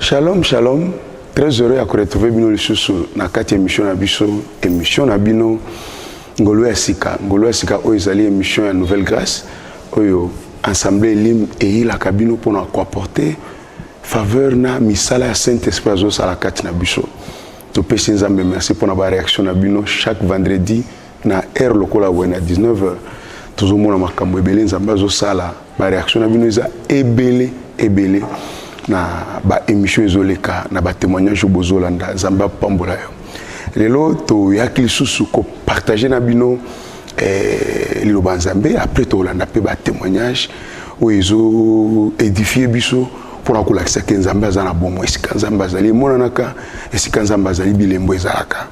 Shalom, shalom. Très heureux à retrouver bino lisusu na kati émission na biso, émission na bino Ngolo ya sika. Ngolo ya sika oyo ezali émission ya Nouvelle Grâce oyo Assemblée Elim eyilaka bino mpo na koapporter faveur na misala ya Saint-Esprit azosala kati na biso. Topesi Nzambe merci mpo na ba réaction na bino chaque vendredi na heure lokola boye na 19 heures tozomona makambo ebele nzambe azosala bareaction na bino eza ebele ebele na baémission ezoleka na batémoignage oyo bozolanda nzambe apambola yo lelo toyaki lisusu kopartage na bino eh, liloba nzambe après tokolanda mpe batémoignage oyo ezoédifie biso mpo na kolakisa ke nzambe aza na bomo esika nzambe azali emonanaka esika nzambe azali bilembo ezalaka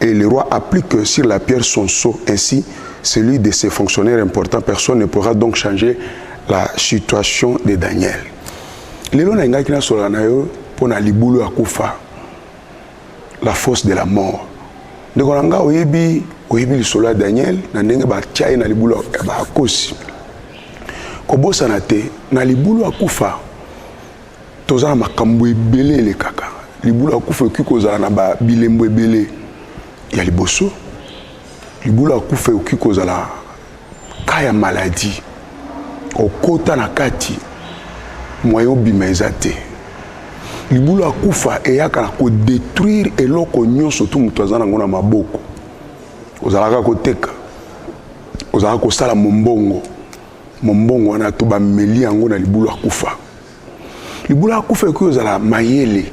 Et le roi applique sur la pierre son sceau, ainsi celui de ses fonctionnaires importants. Personne ne pourra donc changer la situation de Daniel. Lelo na ingaki na sola na yo mpo na libulu ya kufa, la force de la mort. Ndeko na nga oyebi oyebi lisolo ya Daniel na ndenge batya ye na libulu ya bakosi. Kobosana te na libulu ya kufa toza na makambo ebele elekaka libula ya kufa ekoki kozala na ba bilembo ebele ya liboso libula ya kufa ekoki kozala ka ya maladi okota na kati moyen obima eza te libula ya kufa eyaka na kodetruire eloko nyonso tu moto aza nango na maboko ozalaka koteka ozalaka kosala mombongo mombongo wana to bameli yango na libulu akufa libulu akufa ekoki kozala mayele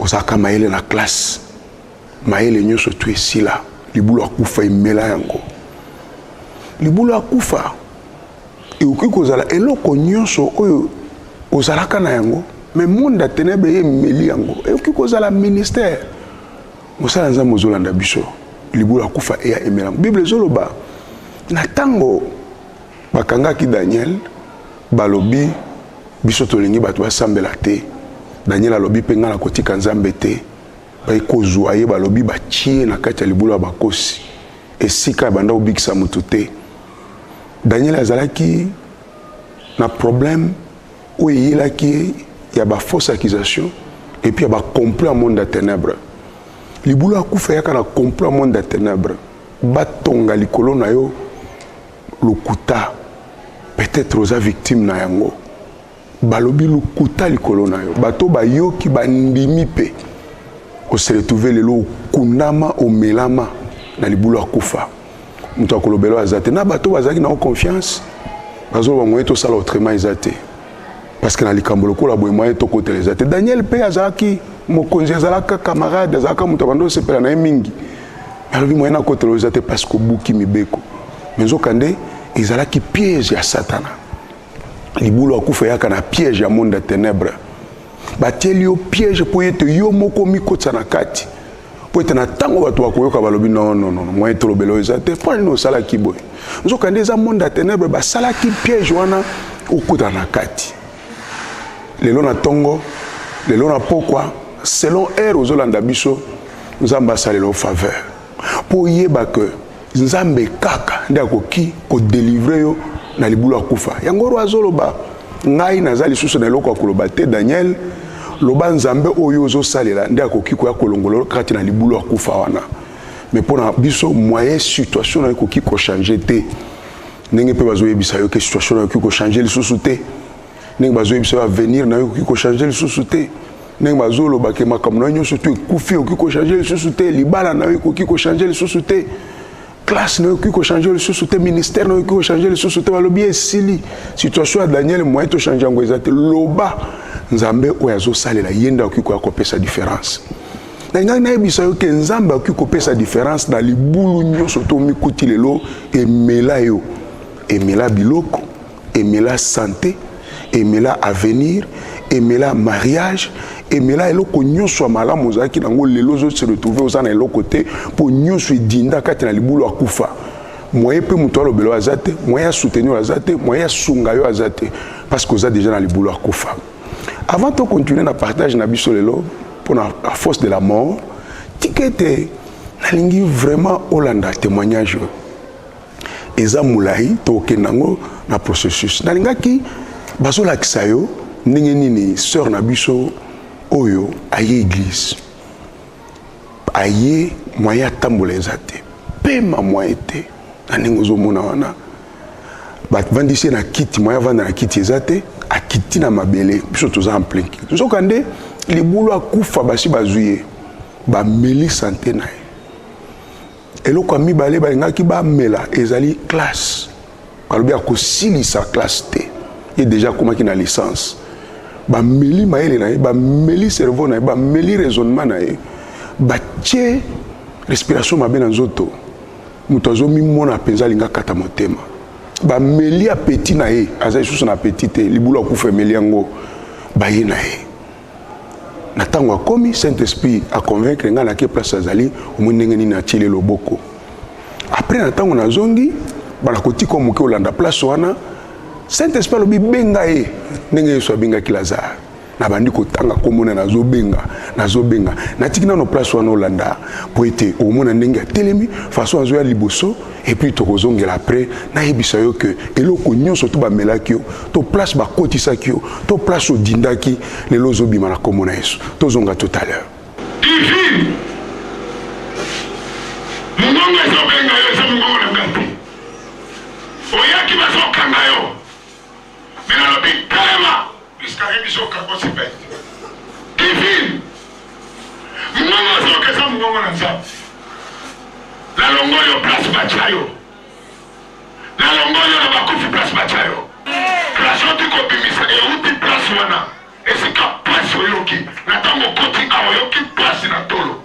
ozalaka mayele na classe mayele nyonso tu esila libulu akufa emela yango libulu akufa ekoki kozala eloko nyonso oyo ozalaka na yango me monde ya tenebre ye emeli yango ekoki kozala ministère mosala nzambe ozolanda biso libula akufa eya emela bible ezoloba na ntango bakangaki daniel balobi biso tolingi bato basambela te daniel alobi mpe ngai nakotika nzambe te baye kozwa ye balobi batie na kati ya libula ya bakosi esika abanda kobikisa moto te daniel azalaki na problème oyo eyelaki ye ya ba fausse accusation et puis ya ba complot ya monde ya ténèbres libulu akufa eyaka na complot ya monde ya ténèbres batonga likolo na yo lokuta peut-être oza victime na yango balobi lokuta likolo na yo bato bayoki bandimi mpe oseretrouve lelo okundama omelama na libulu akufa moto ya kolobela aza te na bato bazalaki na confiance bazoloba moye tosala autrement eza te parce que na likambo lokola boye moye tokotela eza te daniel mpe azalaki mokonzi azalaka camarade azalaka moto abanda osepela na ye mingi alobi moye nakotela eza te parce que obuki mibeko me nzokande ezalaki piège ya satana libulu akufa eyaka na piège ya monde ya ténèbre batieli yo piège mpo ete yo moko omikotisa na kati mpo ete na ntango bato bakoyoka balobi nonono moyen tolobela oyo eza te mpo nini osalaki boye nzokande eza monde ya ténèbre basalaki piège wana okota na kati lelo na ntongo lelo na pokwa selon heure ozolanda biso nzambe asalela o faveur Mpo oyeba que Nzambe kaka nde akoki ko delivrer yo na libulu ya kufa. Yango oyo azoloba ngai naza lisusu na eloko ya koloba te Daniel loba Nzambe oyo ozosalela nde akoki koya kolongola yo kati na libulu ya kufa wana. Mais mpo na biso moyen situation nayo ekoki ko changer te ndenge mpe bazoyebisa yo ke situation nayo ekoki ko changer lisusu te. ndenge bazoyebisa yo avenir na yo ekoki kochange lisusu te ndenge bazoloba ke makambo na yo nyonso to ekufi ekoki kochange lisusu te libala na yo ekoki kochange lisusu te classe na yo ekoki kochange lisusu te ministère na yo ekoki kochange lisusu te balobi esili situation ya daniel moyen tochange yango eza te loba nzambe oyo azosalela ye nde akoki koya kopesa différence nalingaki nayebisa yo ke nzambe akoki kopesa différence na libulu nyonso to omikuti lelo emela yo emela biloko emela sante emela avenir emela mariage emela eloko nyonso ya malamu ozalaki nango lelo ozo se retrouve oza na eloko te mpo nyonso edinda kati na libulu akufa moyen mpe moto alobela oyo aza te moyen ya soutenir oyo aza te moyen ya sunga yo aza te parce que oza déjà na libulu akufa avant to continuer na partage na biso lelo mpo na la force de la mort tika ete nalingi vraiment olanda témoignage oyo eza mulayi tokokenda yango na processus nalingaki bazolakisa yo ndenge nini sœur na biso oyo aye église aye moyen atambola eza te pema moyen te na ndenge ozomona wana bavandisi ye na kiti moyen avanda na kiti eza te akiti na mabele biso toza en plein kiti nzokande libulu akufa basi bazwi ye bameli sante na ye Eloko ya mibale balingaki bamela ezali classe. Balobi akosilisa classe te. Ye deja akomaki na licence. Bameli mayele na ye, bameli cerveau na ye, bameli raisonnement na ye, batie respiration mabe na nzoto. Moto azomimona mpenza alinga kata motema. Bameli apeti na ye, aza lisusu na apeti te, libulu akufa emeli yango baye na ye. na ntango akomi saint esprit aconvaincre ngai nake place azali omoi ndenge nini atiele loboko apres na ntango nazongi bana kotika moke olanda place wana saint esprit alobi benga ye ndenge yesu abengaki lazare nabandi kotanga komona nazobenga nazobenga natiki nano place wana olanda mpo ete omona ndenge atelemi faso azoya liboso et puis tokozongela après nayebisa yo ke eloko nyonso to bamelaki yo to place bakotisaki yo to place odindaki lelo ozobima na nkombo na yesu tozonga tout à l'heure mongongo ezobenga yo eza mongongo na ngai te oyaki bazokanga yo Mais nalobi carrement puisque ayebi biso okako se paye divine mongongo azoyoka eza mongongo na nzambe nalongoli yo place batya yo nalongoli yo na bakufi place batya yo place oti kobimisa euti place wana esika place oyoki na ntango okoti awa oyoki place na tolo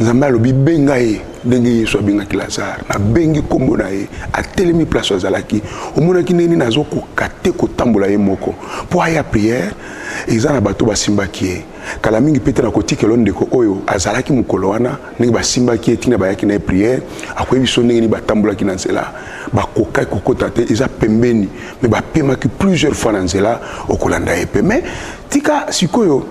nzambe alobi benga ye ndenge yesu abengaki lazare nabengi nkombo na ye atelemi place azalaki omonaki ndenge nini azokoka te kotambola ye moko mpo aya priere eza na bato basimbaki ye kala mingi mpe te na kotikelo ndeko oyo azalaki mokolo wana ndenge basimbaki ye ntina bayaki na ye priere akoyebi biso ndenge nini batambolaki na nzela bakokaki kokota te eza pembeni me bapemaki plusieurs fois na nzela okolanda ye mpe me tika sikoyo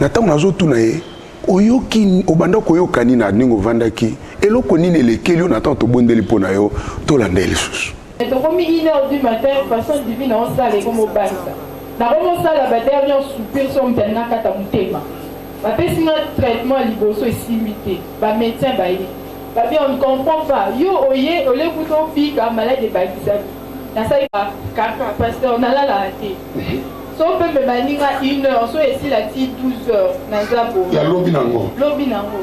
na ntango nazotuna ye oyoki obanda koyoka nini na ndenge ovandaki eloko nini elekeli yo na ntango tobondeli mpo na yo tolanda ye lisusu tokomi une heure du matin façon divine osala ekomobanisa nakomosala badernier soupir so moto alinakata motema bapesi nga traitement ya liboso esimbi te bamédecin baye babi on ne comprend pas yo oye olekuta obika malade ebakisaki nasali kaka pasteur nalalaka te so mpe mpe baninga une heure so esila ti 12 heures naza bo ya lobi nango lobi nango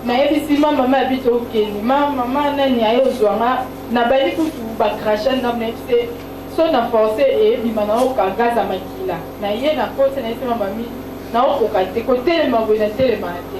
nayebisi ma mama abi tokende ma mama nani aye ozwa nga nabandi kutu bakracha ndambo nayebi te so na force eyebima naoka gaza makila naye na koti nayebisi ma mami naokoka te kotelema boye natelemaka te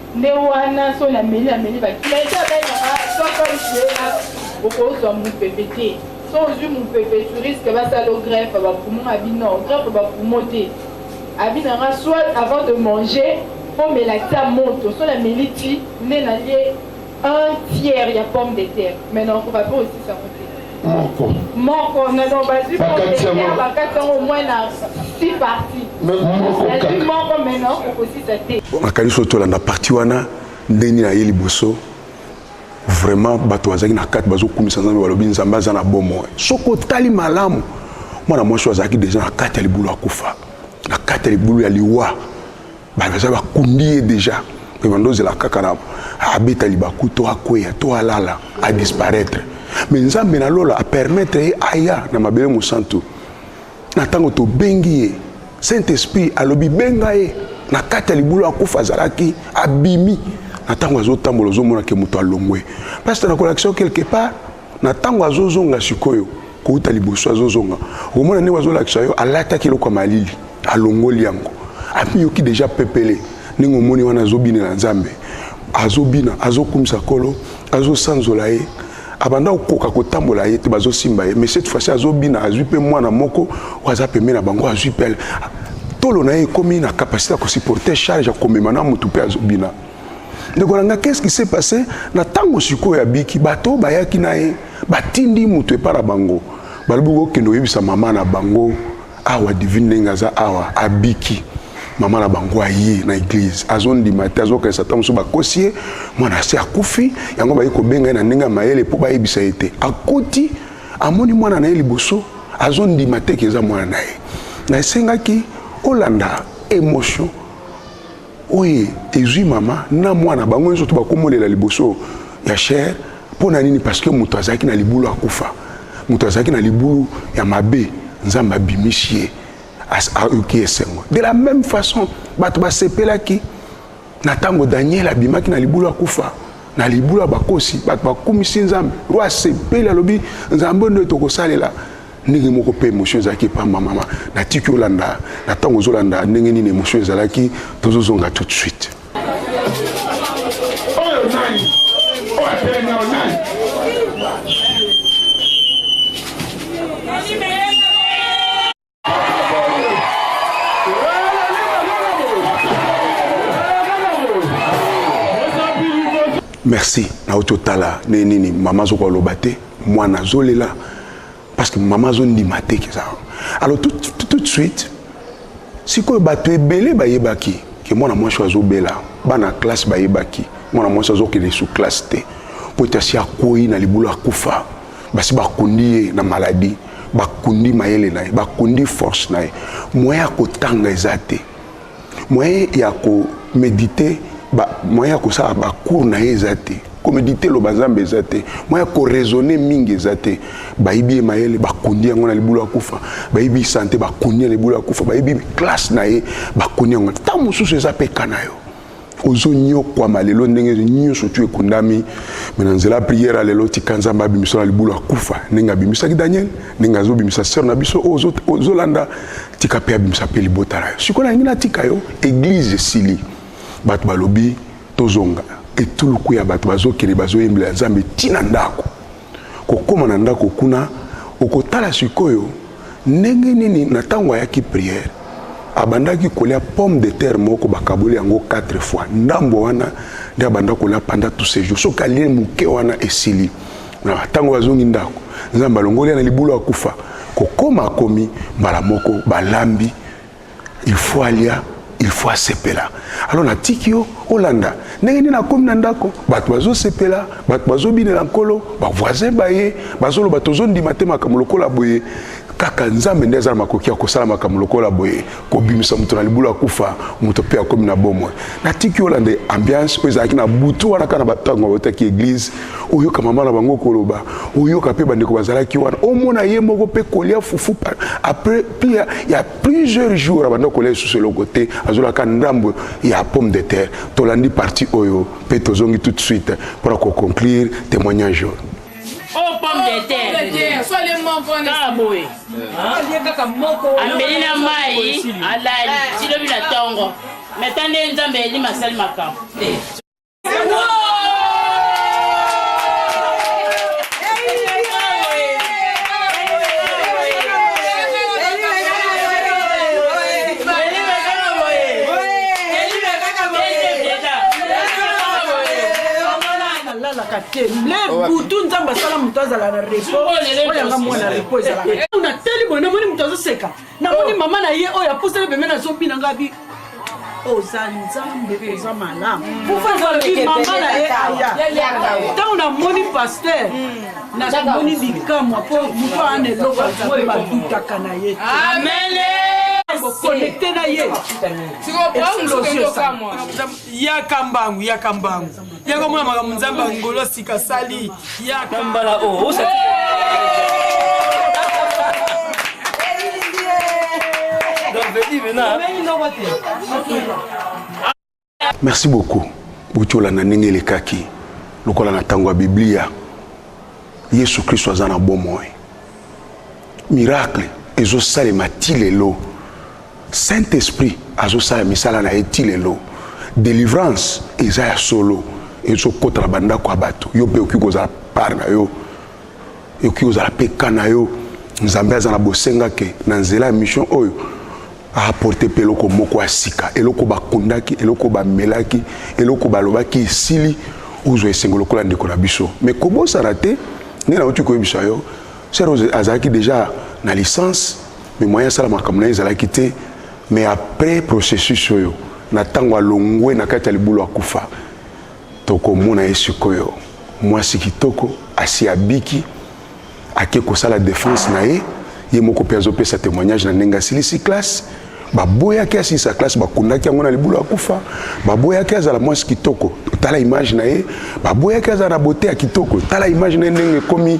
nde wana soni ameli ameli bakilete abengaka sokoje okozwa mopepe te so ozwi mopepe touriste basala greffe bapumo na bino greffe bapumo te abi nanga soit avant de manger fomela ta moto so nameli ti nde nalie un tiers ya pomme de terre mais na okoka mpe osisi yango te moko moko nazo bazwi bakati yango omoi na si parti nazwi moko mena okosisa te nakanisi oyo tolanda parti wana ndenge naye liboso vraiment bato bazalaki na kati bazokumisa nzambe balobi nzambe aza na bomoi soki otali malamu mwana mwasi oyo azalaki deja na kati ya libulu akufa na kati ya libulu ya liwa ba baza ba kundi ye déjà mais bando zela kaka na abeta libaku to akweya to alala a disparaître mais nzambe na lola a permettre ye aya na mabele mosantu na tango to bengi ye saint esprit alobi benga ye na kati ya libulu akufa azalaki abimi na ntango azotambola ozomonake moto alongwe pasita nakolakisa yo quelque part na ntango azozonga sikoyo kouta liboso azozonga okomona ndenge azolakisa yo alataki eloko ya malili alongoli yango amiyoki deja pepele ndenge omoni wana azobinela nzambe azobina azokumisa kolo azosanzola ye abanda kokoka kotambola ye te bazosimba ye mais cette fois-ci azobina azwi mpe mwana moko oyo aza pembe na bango azwi pele tolo na ye ekomi na capacité ya kosupporte charge ya komema na motu mpe azobina ndeko na ngai qu'est-ce qui s'est passé na ntango sikoyo abiki bato oyo bayaki na ye batindi moto epai na bango balobi kokende koyebisa mama na bango awa divine ndenge aza awa abiki mama na bango aye na eglize azondima te azokanisa ntango mosusu bakosi ye mwana asi akufi yango baye kobenga ye na ndenge ya mayele mpo bayebisa ye te akoti amoni mwana na ye liboso azondima te ke eza mwana na ye na esengaki olanda emotion Oyo ezui mama na mwana bango nzoto bakomolela liboso ya cher mpo na nini parce que moto azalaki na libulu akufa moto azalaki na libulu ya mabe nzambe abimisi ye ayoki esengo de la même façon bato basepelaki na ntango daniel abimaki na libulu akufa na libulu ya bakosi bato bakumisi nzambe roi asepeli alobi nzambe nde tokosalela ndenge moko mpe émotion ezalaki epa mama natiki olanda na ntango ozolanda ndenge nini émotion ezalaki tozozonga tout de suite oyo nani oyo atelemi oyo nani merci nauti otala ndenge nini mama azokoka loba te mwana azolela parce que mama azondima te keza alors tout, tout, tout de suite sikoyo bato ebele bayebaki ke mwana mwasi oyo azobela bana classe bayebaki mwana mwasi azokende su classe te mpo ete asi akwei na libulu akufa basi bakundi ye na maladi bakundi mayele na ye bakundi force na ye moyen ya kotanga eza te moyen ya ko méditer ba moyen ya kosala ba cours na ye eza te komedite eloba nzambe eza te moyen ya koraisonne mingi eza te bayibi ye mayele bakundi yango na libulu ya kufa bayibi sante bakundi na libulu ya kufa bayibi classe na ye bakundi yango ntango mosusu eza mpe ka na yo ozo nyokwama lelo ndenge nyonso tu ekundami me na nzela priere ya lelo tika nzambe abimisa na libulu akufa ndenge abimisaki daniel ndenge azobimisa sere na biso oyo ozolanda tika mpe abimisa mpe libota na yo sikoyo nalingi natika yo eglize esili bato balobi tozonga etuluku ya bato bazokende bazoyembela nzambe ntina ndako kokoma na ndako kuna okotala sikoyo ndenge nini na ntango ayaki priere abandaki kolia pomme de terre moko bakaboli yango 4 fois ndambo wana nde abanda kolia panda tout ce jour soki alie moke wana esili na ntango azongi ndako nzambe alongoli ya na libulu akufa kokoma akomi mbala moko balambi il faut alia il faut asepela alors natiki yo olanda ndenge nini akomi na ndako bato bazosepela bato bazobinela nkolo bavoisin baye bazoloba tozondima te makambo lokola boye kaka nzambe nde aza na makoki ya kosala makambo lokola boye kobimisa moto na libulu akufa moto mpe akomi na bomoi natiki olanda ambiance oyo ezalaki na butu wana kaka na batango bautaki eglize oyoka mama na bango koloba oyoka mpe bandeko bazalaki wana omona ye moko mpe kolia fufu après pia ya plusieurs jours abanda kolia lisusu eloko te azolaka ndambo ya pomme de terre tolandi parti oyo mpe tozongi tout de suite mpo na koconclure témoignage oyo oh, ameli na mai alali tilobi na ntongo meta nde nzambe eli masali makambo ezalaka te le butu nzambe asala moto azala na repo oyanga mwana repo ezalaka natali boye namoni moto azoseka namoni mama na ye oyo apusani pembeni azobina ngai bi oza nzambe oza malamu alobi mama na ye aya ntango namoni paster namoni bikamwa mpo moto ana eloko azambe badutaka na ye bokonekte na ye ya kambangu ya kambangu yaka omona makambo nzambe ya ngolo sika asali yaka mbala o oh, osati merci beaucoup botyola na ndenge elekaki lokola na ntango ya biblia yesu kristo aza na bomoi miracle ezosalema ti lelo Saint esprit azo sala misala na ye ti lelo. Delivrance eza ya solo ezo kota na bandako ya bato. Yo pe okoki kozala part na yo ekoki kozala mpe ka na yo nzambe aza na bosenga ke na nzela ya mission oyo aaporte mpe eloko moko ya sika eloko bakundaki eloko bamelaki eloko balobaki esili ozwa esengo lokola ndeko na biso mais kobosana te nde nauti koyebisa yo serose azalaki deja na licence me moyen asala makambo na ye ezalaki te me après processus oyo na ntango alongwe na kati ya libulu akufa tokomona ye sikoyo mwasi kitoko asi abiki ake kosala defense na ye ye moko mpe azopesa témoignage na ndenge asilisi classe baboyaki asilisa classe bakundaki yango na libulu akufa baboyaki azala mwasi kitoko tala image na ye baboyaki azala na bote ya kitoko tala image na ye ndenge ekomi